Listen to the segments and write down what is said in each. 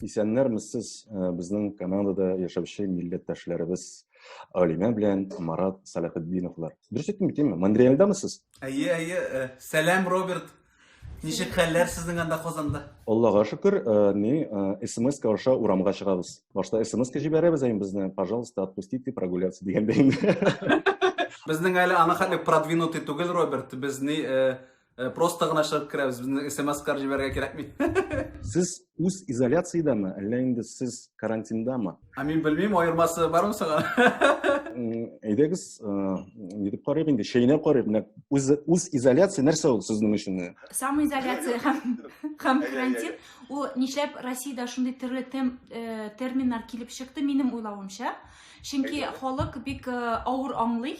Исәннәрмез сез э, безнең Канадада яшәүче милләттәшләребез Алимә белән Марат Салахетдиновлар. Дөрес әйттем бит, әйеме? Монреальдамы сез? Әйе, әйе. Э, сәлам, Роберт. Ничек хәлләр сезнең анда Казанда? Аллага шөкер, э, ни, смс-ка аша урамга чыгабыз. башта смс җибәрәбез ә безне пожалуйста отпустите прогуляться дигәндә инде безнең әле аны хәтле продвинутый түгел роберт без ни э, э, просто гына чыгып керәбез безне смс кар җибәрергә кирәкми сез үз изоляциядәме әллә инде сез карантиндамы ә мин белмим аермасы бармы соң әйдәгез ни дип карыйк инде чәйнәп карыйк менә үз үз изоляция нәрсә ул сезнең өчен самоизоляция һәм һәм карантин Ул нишләп Россиядә шундый төрле тем, э, терминнар килеп чыкты, минем уйлавымча. Чөнки Әйе. халык бик э, авыр аңлый.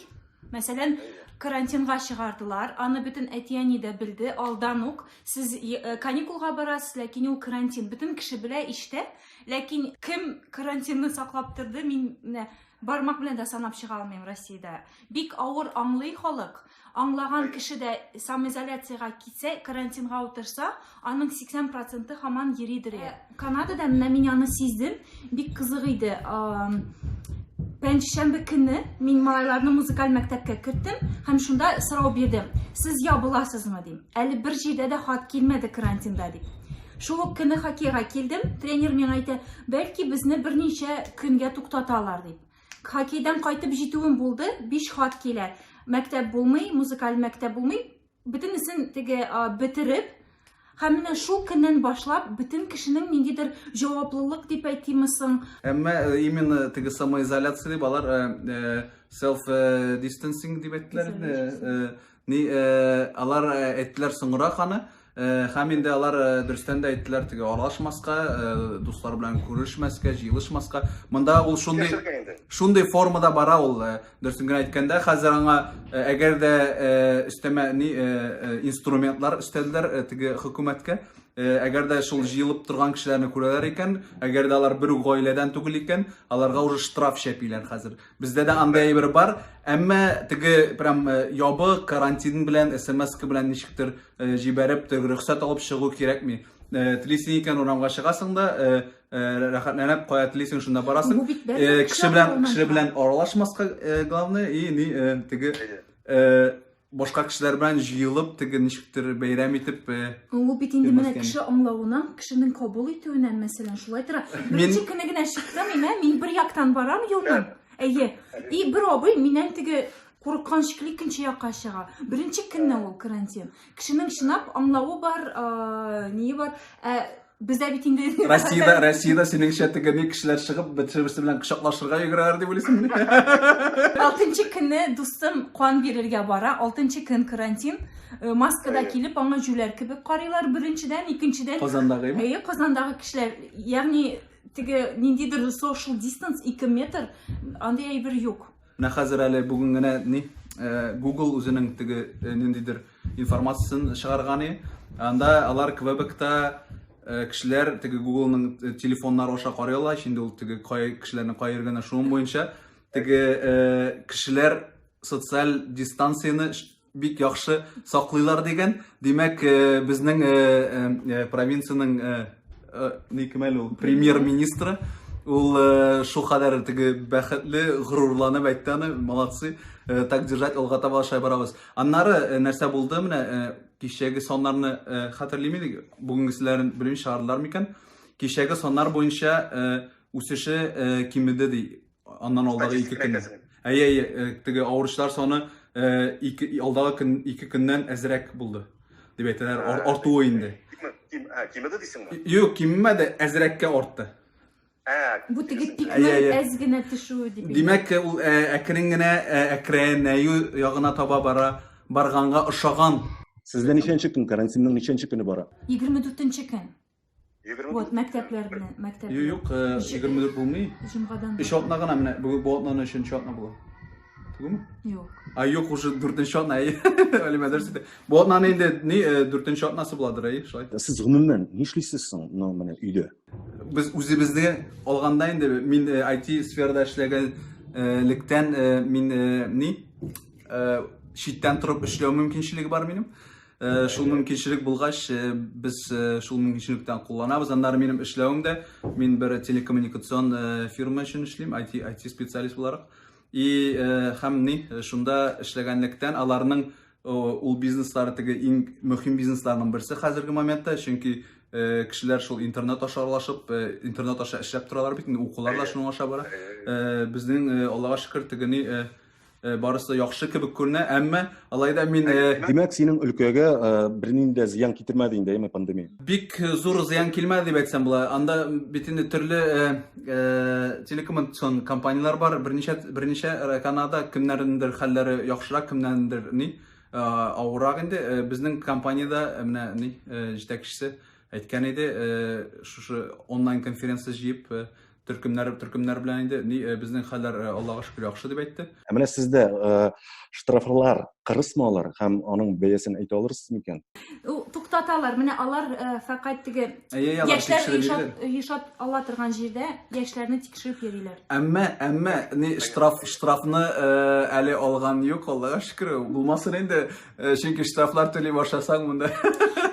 Мәсәлән, карантинга чыгардылар, аны бөтен әти-әни дә белде, алдан ук. Сез э, каникулга барасыз, ләкин ул карантин. Бөтен кеше белә иштә, ләкин кем карантинны саклап торды, мин менә Бармак белән дә санап чыга алмыйм Россиядә. Бик авыр аңлый халык. Аңлаган кеше дә самоизоляциягә китсә, карантинга утырса, аның 80 проценты хаман йөридер. Ә, Канадада менә мин аны сиздем. Бик кызык иде. Пәнҗешәмбе көне мин малайларны музыкаль мәктәпкә керттем һәм шунда сорау бирдем. Сез ябыласызмы дим. Әле бер җирдә дә хат килмәде карантинда дип. Шул ук көне хоккейга килдем. Тренер миңа әйтә, бәлки безне берничә көнгә туктаталар дип. Хоккейдан кайтып җитүем булды, биш хат килә. Мәктәп булмый, музыкаль мәктәп булмый. Бөтенесен теге бетереп, һәм менә шул көннән башлап бөтен кешенең ниндидер җаваплылык дип әйтимме соң. Әмма э, именно теге самоизоляция дип алар э, э, self distancing дип әйттеләр. Ни, э, алар э, әйттеләр соңрак аны, э, һәм инде алар э, дөрестән дә әйттеләр теге аралашмаска, э, дуслар белән күрешмәскә, җыелышмаска. Монда ул шундый Яшәргә инде. шундый формада бара ул, э, дөресен генә әйткәндә, хәзер аңа э, әгәр дә э, өстәмә ни э, э, инструментлар өстәлделәр э, теге хөкүмәткә. Э, Әгәр дә шул җыелып торган кешеләрне күрәләр икән, әгәр дә алар бер үк гаиләдән түгел икән, аларга уже штраф чәпиләр хәзер. Бездә дә андый әйбер бар, әмма теге прям э, ябык карантин белән, смс белән ничектер э, җибәреп, теге рөхсәт алып чыгу кирәкми. Э, Телисең икән урамга чыгасың да, э, э, рәхәтләнеп кая телисең шунда барасың. Бу бит бәрдәм Э, Кеше белән чыгу кеше булмаса. белән аралашмаска э, главное и ни э, теге э, башка кешеләр белән җыелып, теге ничектер бәйрәм итеп. Э, Ул бит инде менә кеше аңлавыннан, кешенең кабул итүеннән, мәсәлән, шулай тора. Беренче көне генә чыктым, имә, мин бер яктан барам юлдан. Әйе. И бер абый миннән теге курыккан шикелле икенче якка чыга. Беренче көнне ул карантин. Кешенең чынлап аңлавы бар, э, ние бар. Ә Бездә бит инде Россиядә, Россиядә синеңчә теге ни кешеләр чыгып, бер-берсе белән кочаклашырга йөгерәләр дип уйлыйсыңмы? Алтынчы көнне дустым кан бирергә бара. Алтынчы көн карантин. Э, маскада килеп, аңа җүләр кебек карыйлар беренчедән, икенчедән. Казандагы. Әйе, Казандагы кешеләр, ягъни теге ниндидер social distance 2 метр, андый әйбер юк. Менә хәзер әле бүген генә ни Google үзенең теге ниндидер информациясен чыгарган и анда алар Квебекта кешеләр теге Googleның телефоннары аша карыйлар ич инде ул теге кешеләрнең кай йөргәнен шуның буенча теге кешеләр социаль дистанцияне бик яхшы саклыйлар дигән. Димәк, э, безнең э, э, провинциянең ни кем әле ул премьер-министры ул шул кадәр теге бәхетле, горурланып әйтте аны, молодцы. Так держать, алга таба аша барабыз. Аннары нәрсә булды менә кичәге саннарны хәтерлим идек, бүгенгеселәрен белмим чыгардылар микән? Кичәге саннар буенча үсеше кимеде ди. Аннан алдагы ике Статистика көн. әйтәсең. Әйе, әйе, э, теге авыручылар саны э, ике, алдагы көн, ике көннән әзрәк булды. Дип әйтәләр, ар- Ә, артуы инде. Киме- ким- ә, Кимеде дисеңме? Юк, киммәде, әзрәккә артты. Ә, Бу теге дигәсең. пикның Әйе, әйе. әз генә төшүе дип. Димәк, э, ул ә, әкрен генә ә, әкренәю ягына таба бара, барганга ошаган. Сездә ничәнче көн, карантинның ничәнче көне бара? 24 көн. Вот, мәктәпләр белән, мәктәп. Юк, 24 булмый. Җомгадан. Өч атна гына менә, бүген бу атнаны өченче атна була. Түгелме? Юк. А юк, уже дүртенче атна. Әлимә дөрес әйтә. Бу атнаны инде ни дүртенче атнасы буладыр, әй, шулай. Сез гомумән нишлисез соң, ну, менә өйдә? Без үзебезне алганда инде мин IT сферада эшләгәнлектән мин ни читтән торып эшләү мөмкинчелеге бар минем. Э, шул мөмкинчелек булгач э, без э, шул мөмкинчелектән кулланабыз аннары минем эшләвем дә мин бер телекоммуникацион фирма өчен эшлим IT IT специалист буларак и һәм ни шунда эшләгәнлектән аларның ул бизнеслары теге иң мөһим бизнесларның берсе хәзерге моментта чөнки кешеләр шул интернет аша аралашып интернет аша эшләп торалар бит инде укулар да шуның аша бара безнең аллага шөкер теге ни Э, барысы да яхшы кебек күренә әмма алай да мин э, димәк синең өлкәгә э, бернинди дә зыян китермәде инде әйме пандемия бик зур зыян килмәде дип әйтсәм була анда бит инде төрле телекоммуникацион компанияләр бар берничә берничә канада кемнәрнеңдер хәлләре яхшырак кемнәрнеңдер ни авыррак инде безнең компаниядә менә ни җитәкчесе әйткән иде шушы онлайн конференция җыеп төркемнәр төркемнәр белән инде ни э, безнең хәлләр э, аллага шөкер яхшы дип әйтте ә менә сездә э, штрафлар кырысмы алар һәм аның бәясен әйтә алырсыз микән туктаталар менә алар фәкать теге яшьләр ешат ала торган җирдә яшьләрне тикшереп йөриләр әмма әмма ни штраф штрафны әле алган юк аллага шөкер булмасын инде Э, чөнки штрафлар түли башласаң монда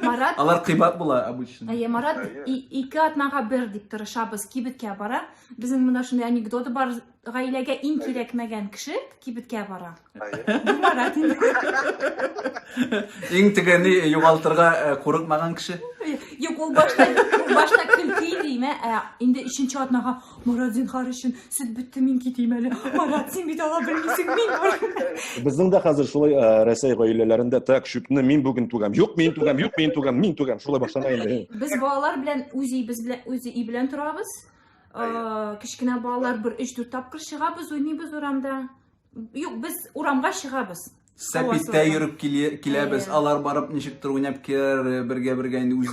марат алар кыйбат була обычно әйе марат ике атнага бер дип тырышабыз кибеткә бара безнең монда шундый анекдоты бар гаиләгә иң кирәкмәгән кеше кибеткә бара марат иң тегене югалтырга э, курыкмаган кеше юк ул башта башта көлки дим ә инде өченче атнага Марат, зинхар өчен, сөт бетте, мин китим әле. Марат, син бит ала белмисең, мин бар. Безнең дә хәзер шулай э, Рәсәй гаиләләрендә так шүпне мин бүген түгәм. Юк, мин түгәм, юк, мин түгәм, мин түгәм. Шулай башлана инде. Без балалар белән үз өебез белән үз өй белән торабыз. Э, Кечкенә балалар бер 3-4 тапкыр чыгабыз, уйныйбыз урамда. Юк, без урамга чыгабыз. Сәпиттә йөреп киләбез, алар барып ничектер уйнап киләр, э, бергә бергә инде үз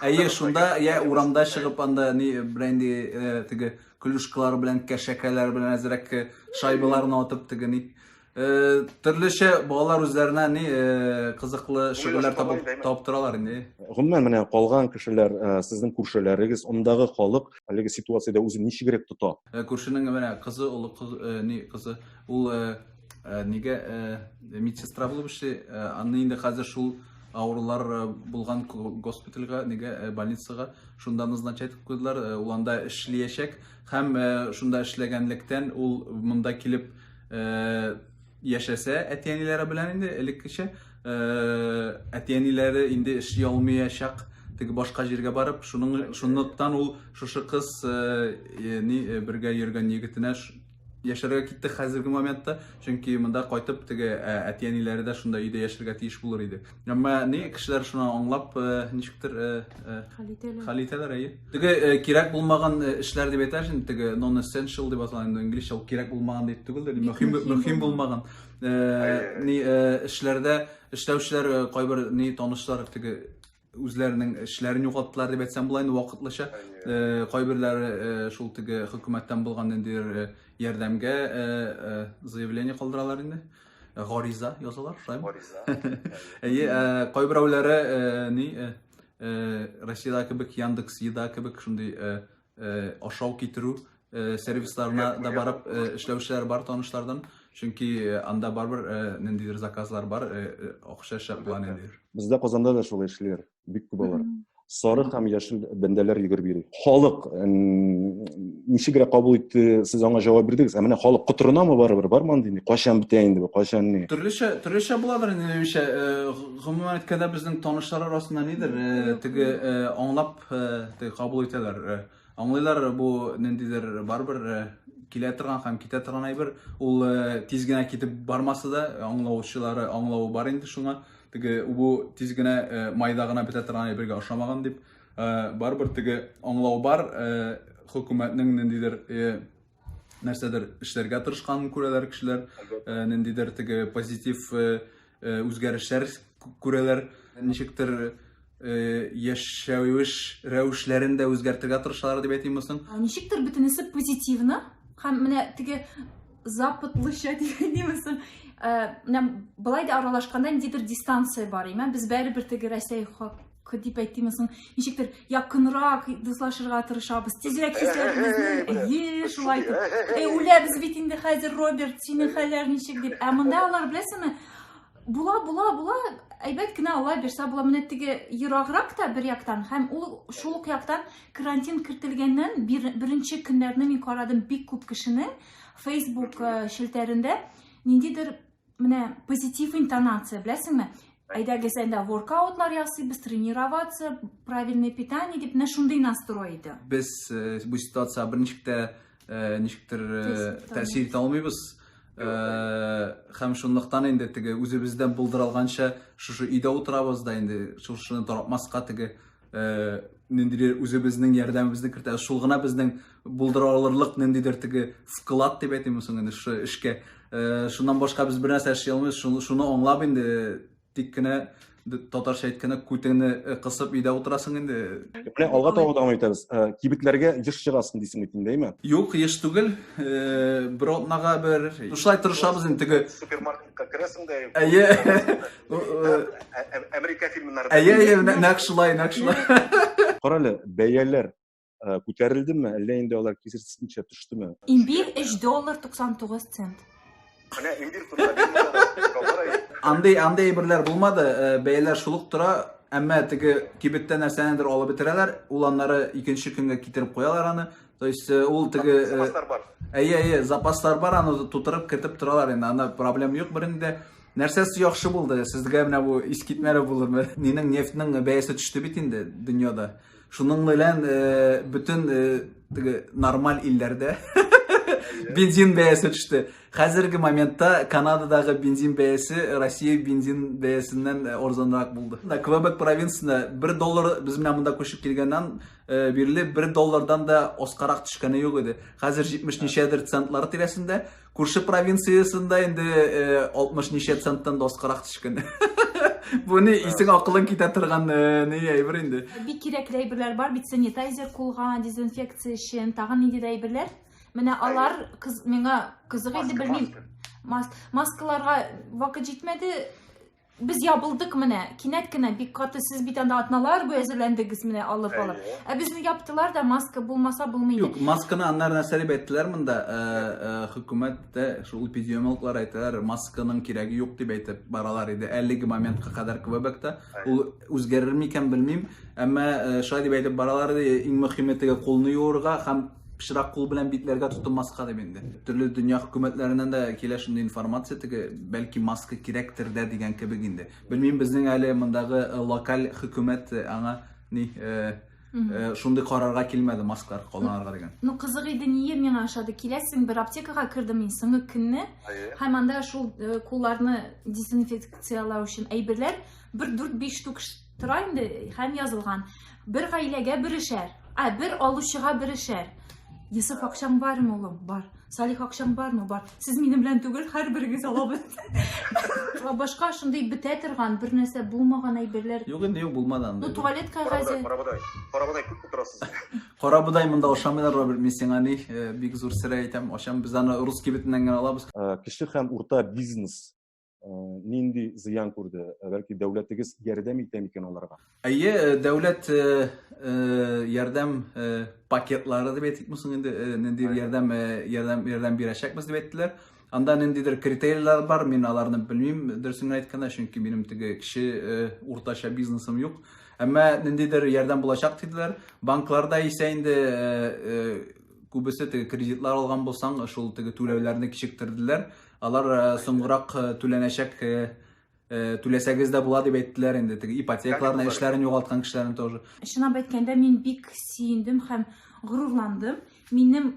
Әйе, шунда я урамда чыгып анда ни бренди э, теге клюшкалар белән, кәшәкәләр белән әзрәк э, шайбаларны атып теге ни төрлечә балалар үзләренә ни кызыклы шөгыльләр табып таптыралар инде. Гомумән менә калган кешеләр, сезнең күршеләрегез, ондагы халык әлеге ситуациядә үзен ничегрәк тота? Э, күршенең менә кызы, олы кыз, э, ни кызы, ул э, нигә медсестра булып эшли, аны инде хәзер шул авырулар булган госпитальга, нигә больницага, шунда назначать итеп куйдылар, ул анда эшлиячәк һәм шунда эшләгәнлектән ул монда килеп яшәсә әти-әниләре белән инде элеккечә э, әти-әниләре инде эшли алмыячак теге башка җиргә барып шуның шунлыктан ул шушы кыз э, э, ни э, бергә йөргән егетенә ш- яшәргә китте хәзерге моментта чөнки монда кайтып теге ә, әти-әниләре дә шунда өйдә яшәргә тиеш булыр иде Әмма ни кешеләр шуны аңлап, ничектер хәл итәләр. Хәл итәләр, әйе. Теге кирәк булмаган эшләр дип әйтәш инде, теге non essential дип атала инде инглизчә, ул кирәк булмаган дип түгел дә, мөһим мөһим булмаган. Ни эшләрдә эшләүчеләр кайбер ни танышлар теге үзләренең эшләрен югалттылар дип әйтсәм була инде вакытлыча кайберләре шул теге хөкүмәттән булган ниндидер ярдәмгә заявление калдыралар инде Гариза язалар, шулаймы? Гариза. Әйе, кайберәүләре ни Россиядә кебек Яндекс Еда кебек шундый ашау китерү сервисларына да барып эшләүчеләр бар танышлардан. Чөнки анда барбер ниндидер заказлар бар, акча шәп була ниндидер. Бездә Казанда да шулай эшлиләр. бик күп алар сары һәм яшел бәндәләр йөгереп йөри халык ничегрәк кабул итте сез аңа җавап бирдегез ә менә халык котырынамы барыбер бармы андый кайчан бетә инде бу кайчан ни төрлечә төрлечә буладыр инде минемчә гомумән әйткәндә безнең танышлар арасында нидер теге аңлап теге кабул итәләр Аңлыйлар бу ниндидер барыбер килә торган һәм китә торган әйбер. Ул тиз генә китеп бармаса да, аңлаучылары аңлавы бар инде шуңа. Теге бу тиз генә майда гына бетә торган әйбергә ошамаган дип, барыбер теге аңлау бар хөкүмәтнең ниндидер нәрсәдер эшләргә тырышканын күрәләр кешеләр, э, ниндидер теге позитив э, э, үзгәрешләр күрәләр, ничектер яшәвеш рәвешләрен дә үзгәртергә тырышалар дип әйтимме соң? Ничектер бөтенесе позитивны һәм менә теге западлыча дигәнме соң? Менә былай да аралашканда ниндидер дистанция бар, имә без бәрібер теге Рәсәй дип әйтимме соң ничектер якынрак дуслашырга тырышабыз тизрәк кисәбезне әйе шулай итеп эй үләбез бит инде хәзер роберт синең хәлләр ничек дип ә монда алар беләсеңме була була була әйбәт кенә алла бирса була менә теге ераграк та бер яктан һәм ул шул ук яктан карантин кертелгәннән беренче көннәрне мин карадым бик күп кешенең фейсбук челтәрендә ниндидер Менә позитив интонация, беләсеңме? Әйдәгез әйдә воркаутлар ясыйбыз, тренироваться, правильное питание дип, менә шундый настрой иде. Без э, бу ситуация берничек тә э, ничектер э, тәэсир итә алмыйбыз. Һәм шунлыктан инде теге үзебездән булдырылганча шушы өйдә утырабыз да инде шушыны таратмаска теге Э, ниндидер үзебезнең ярдәмебезне кертә шул гына безнең булдыра алырлык ниндидер теге вклад дип әйтимме соң инде шу эшкә э, шуннан башка без бернәрсә эшли алмыйбыз шуны аңлап инде тик кенә татарча әйткәндә күтеңне э, кысып өйдә утырасың инде менә алга таба дәвам итәбез кибетләргә еш чыгасың дисең бит инде әйме юк еш түгел бер атнага бер шулай тырышабыз инде теге супермаркетка керәсең дә әйе Америка фильмнары. Әйе, әйе, нәкъ шулай, нәкъ шулай. Карале, бәяләр күтәрелдеме, әллә инде алар кисертсенчә төштеме? Имбир 3 доллар 99 цент. Менә имбир турында. Андый, андый әйберләр булмады, бәяләр шулык тора. Әмма теге кибеттә нәрсәнедер алып бетерәләр, ул аннары икенче көнгә китереп куялар аны. То есть ул теге Әйе, әйе, запаслар бар, аны тутырып кертеп торалар инде. Анда проблем юк бернинди. Нәрсәсе яхшы булды? Сезгә менә бу искитмәле булырмы? Нинең нефтьнең бәясе төште бит инде дөньяда. Шуның белән э, бөтен э, теге нормаль илләрдә бензин бәясе төште. Хәзерге моментта Канададагы бензин бәясе Россия бензин бәясеннән э, арзанрак булды. Менә Квебек провинциясендә 1 доллар без менә монда күчеп килгәннән э, бирле 1 доллардан да аскарак төшкәне юк иде. Хәзер 70 ничәдер центлар тирәсендә. Күрше провинциясендә инде 60 э, ничә центтан да аскарак төшкән. Бу ни исең акылың китә торган э, ни әйбер инде. Бик кирәкле әйберләр бар бит санитайзер кулга, дезинфекция өчен, тагын нинди дә әйберләр. Менә алар кыз миңа кызык иде белмим. Мас маскаларга вакыт җитмәде. Без ябылдык менә, кинәт кенә бик каты, сез бит анда атналар буе әзерләндегез менә алып алып. Ә безне яптылар да, маска булмаса булмый иде. Юк, масканы аннары нәрсә дип әйттеләр монда, э, э, хөкүмәт тә, шул эпидемиологлар әйтәләр, масканың кирәге юк дип әйтеп баралар иде, әлеге моментка кадәр Квебекта. Ул үзгәрер микән, белмим. Әмма э, шулай дип әйтеп баралар иде, иң мөхиме теге кулны юырга һәм пычрак кул белән битләргә тотынмаска дип инде. Төрле дөнья хөкүмәтләреннән дә килә шундый информация теге, бәлки маска кирәктер дә дигән кебек инде. Белмим, безнең әле мондагы э, локаль хөкүмәт э, аңа ни э, шундый карарга килмәде маскалар кулланырга дигән. Ну кызык иде ние миңа ошады. Киләсең бер аптекага кердем мин соңгы көнне. Һәм анда шул кулларны дезинфекциялау өчен әйберләр бер 4-5 штук Тора инде һәм язылган. Бер гаиләгә бер эшәр. Ә бер алучыга бер эшәр. Йосыф акчаң бармы, улым? Бар. Салих акчаң бармы? Бар. Сез минем белән түгел, һәрберегез алабыз. Ва Башка шундый бетә торган, бер нәрсә булмаган әйберләр. Юк инде, юк булмады Ну, андый. туалет Карабодай, кәгазе. карабодай. Карабодай күп утырасыз. Карабодай монда ашамыйлар, Роберт, мин сиңа ни, э, бик зур сер әйтәм, ачам, без аны русский битеннән генә алабыз. Э, Кече һәм урта бизнес нинди зыян күрде? Бәлки дәүләтегез ярдәм итә микән аларга? Әйе, дәүләт ярдәм пакетлары дип әйтик мусың инде, нинди ярдәм ярдәм ярдәм бирәчәкбез дип әйттеләр. Анда ниндидер критерийлар бар, мин аларны белмим, дөресен әйткәндә, чөнки минем теге кеше уртача бизнесым юк. Әмма ниндидер ярдәм булачак диделәр. Банкларда исә инде күбесе теге кредитлар алган булсаң, шул теге түләүләрне кичектерделәр. Алар э, соңгырак э, түләнәчәк э, түләсәгез дә була дип әйттеләр инде теге ипотекаларны эшләрен югалткан кешеләрне тоже чынлап әйткәндә мин бик сөендем һәм горурландым минем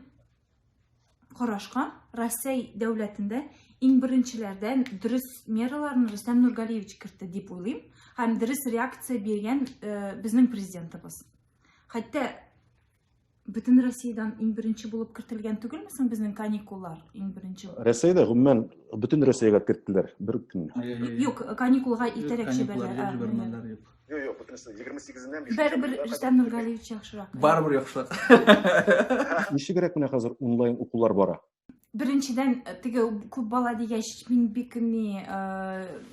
карашка россия дәүләтендә иң беренчеләрдән дөрес мераларны рөстәм нургалиевич кертте дип уйлыйм һәм дөрес реакция биргән безнең президентыбыз хәтта Бөтен Россиядән иң беренче булып кертелгән түгелме соң безнең каникуллар иң беренче? Россиядә гомумән бөтен Россиягә керттеләр бер үк көн. Юк, каникулга итәрәк җибәрделәр. Юк, юк, бөтен 28-ннән 5 Бәрбер Рөстәм Нургалиевич яхшырак. Барыбер яхшырак. Ничегрәк менә хәзер онлайн укулар бара? Беренчедән, теге күп бала дигәч, мин бик ни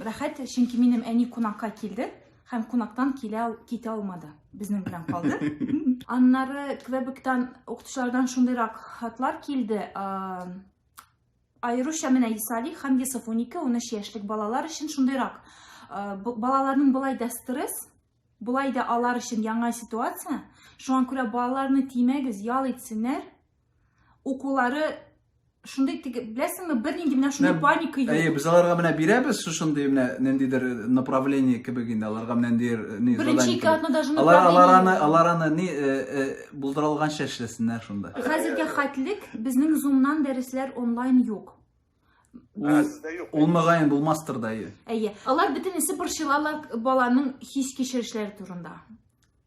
рәхәт, чөнки минем әни кунакка килде һәм кунактан килә китә алмады. Безнең белән калды. Аннары Квебектан укытучылардан шундыйрак хатлар килде. Айрушя менә Исали һәм Йосиф 12-13 яшьлек балалар өчен шундыйрак. Балаларның болай да стресс, болай да алар өчен яңа ситуация. Шуңа күрә балаларны тимәгез, ял итсеннәр. укулары шундый теге беләсеңме бернинди менә шундый паника юк әйе без аларга менә бирәбез шушындый менә ниндидер направление кебек инде аларга менә ниндидер ни беренче ике атна даже алар алар аны алар аны ни э, э, булдыра алганча эшләсеннәр шунда хәзергә хәтлек безнең зумнан дәресләр онлайн юк Ул мөгаен булмастыр да ие. Әйе. Алар бөтенесе борчылалар баланың хис кичерешләре турында.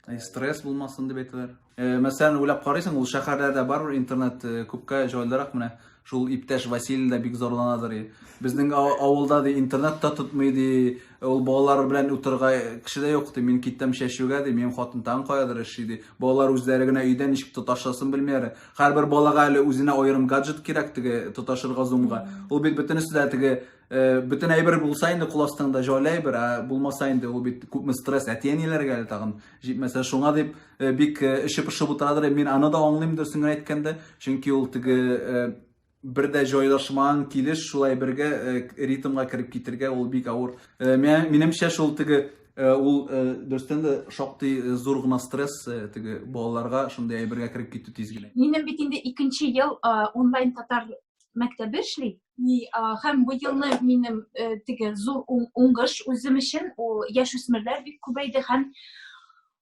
Әй, стресс булмасын дип әйтәләр. Э, мәсәлән, уйлап карыйсың, ул шәһәрләрдә барыр интернет э, күпкә җайлырак менә. Шул иптәш Василий да бик зарланадыр. Безнең авылда ди интернет та тотмый ди. Ул балалар белән утырга кеше дә юк ди. Мин киттем чәчүгә ди. Минем хатын тагын каядыр эшли ди. Балалар үзләре генә өйдә ничек тоташласын белмиләр. Һәрбер балага әле үзенә аерым гаджет кирәк теге тоташырга зумга. Ул бит бөтенесе дә теге э, бөтен әйбер булса инде кул астыңда җайлы әйбер, ә булмаса инде ул бит күпме стресс әти-әниләргә әле тагын җитмәсә шуңа дип э, бик э, эче пошып утырадыр. Мин аны да аңлыйм дөресен генә әйткәндә, чөнки ул теге бер дә җайлашмаган килеш шулай бергә э, ритмга кереп китергә ул бик авыр. Э, минемчә шул теге э, ул дөрестән дә шактый зур гына стресс теге балаларга шундый әйбергә кереп китү тиз генә. Минем бит инде икенче ел онлайн татар мәктәбе эшли. Һәм бу елны минем теге зур уңгыш үзем өчен ул яшүсмерләр бик күбәйде һәм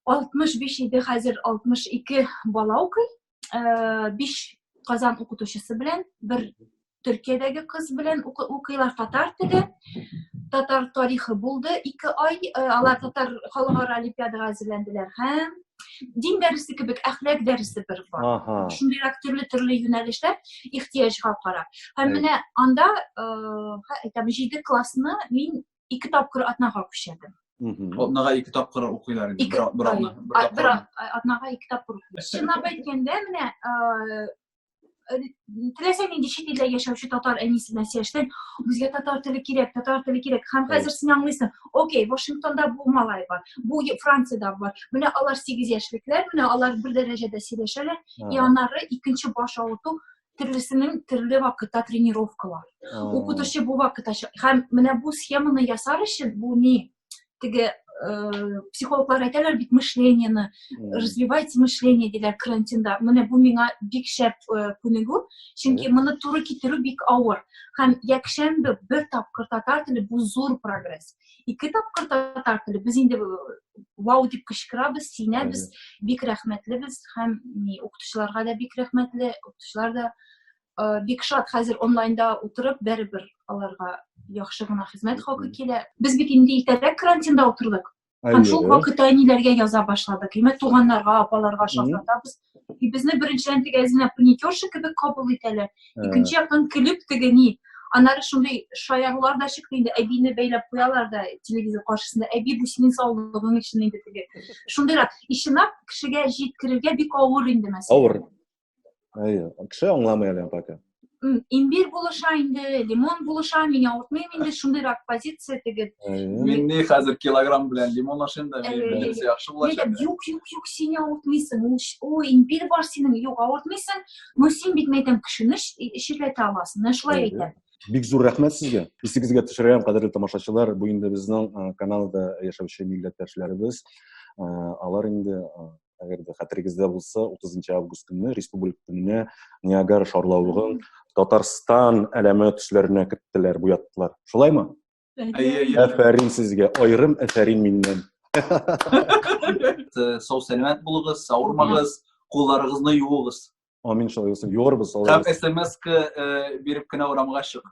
65 иде, хәзер 62 бала укый. э, биш казан укытучысы белән бер төркиядәге кыз белән укыйлар татар теле татар тарихы булды ике ай э, алар татар халыкара олимпиадага әзерләнделәр һәм дин дәресе кебек әхлак дәресе бер бар ага. шундыйрак төрле төрле юнәлештә ихтыяҗга карап һәм менә анда э, әйтәм җиде классны мин ике тапкыр атнага күчәдем атнага ике тапкыр укыйлар инде бер атна бер атнага ике тапкыр укыйлар чынлап әйткәндә менә теләсә нинди чит илдә яшәүче татар әнисе белән сөйләштең безгә татар теле кирәк татар теле кирәк һәм хәзер син аңлыйсың окей вашингтонда бу малай бар бу франциядә бар менә алар сигез яшьлекләр менә алар бер дәрәҗәдә сөйләшәләр и аннары икенче баш авырту төрлесенең төрле вакытта тренировкалар укытучы бу вакытта һәм менә бу схеманы ясар өчен бу ни теге э, психологлар әйтәләр бит мышлениены развивать мышление диләр карантинда менә бу миңа бик шәп э, күнегү чөнки моны туры китерү бик авыр һәм якшәмбе бер тапкыр татар теле бу зур прогресс ике тапкыр татар теле без инде вау дип кычкырабыз сөенәбез бик рәхмәтлебез һәм ни укытучыларга да бик рәхмәтле укытучылар да бик шат хәзер онлайнда утырып бәрібір аларга яхшы гына хезмәт хакы килә без бит инде иртәрәк карантинда утырдык һәм шул вакытта әниләргә яза башладык имә туганнарга апаларга шалтыратабыз и безне беренчедән теге әзинә паникерша кебек кабул итәләр икенче яктан көлеп теге ни аннары шундый шаярулар да чыкты инде әбине бәйләп куялар да телевизор каршысында әби бу синең саулыгың өчен инде теге шундыйрак и чынлап кешегә җиткерергә бик авыр инде мәсәлән авыр әйе кеше аңламый әле пока имбир булыша инде лимон булыша мин яңыртмыйм инде шундыйрак позиция теге мин ни хәзер килограмм белән лимон ашыйм да минемчә яхшы булачак юк юк юк син яңыртмыйсың ой имбир бар синең юк авыртмыйсың но син бит мәйтәм кешене ширләтә аласың менә шулай әйтәм бик зур рәхмәт сезгә исегезгә төшерәм кадерле тамашачылар бу инде безнең каналда яшәүче милләттәшләребез алар инде әгәр дә хәтерегездә булса утызынчы август көнне республика көненә ниагара шарлавыгын татарстан әләме төсләренә керттеләр буяттылар шулаймы әфәрин сезгә аерым әфәрин миннән сау сәләмәт булыгыз савырмагыз кулларыгызны юыгыз амин шулай булсын юарбыз һәм смска э, биреп кенә урамга чыгып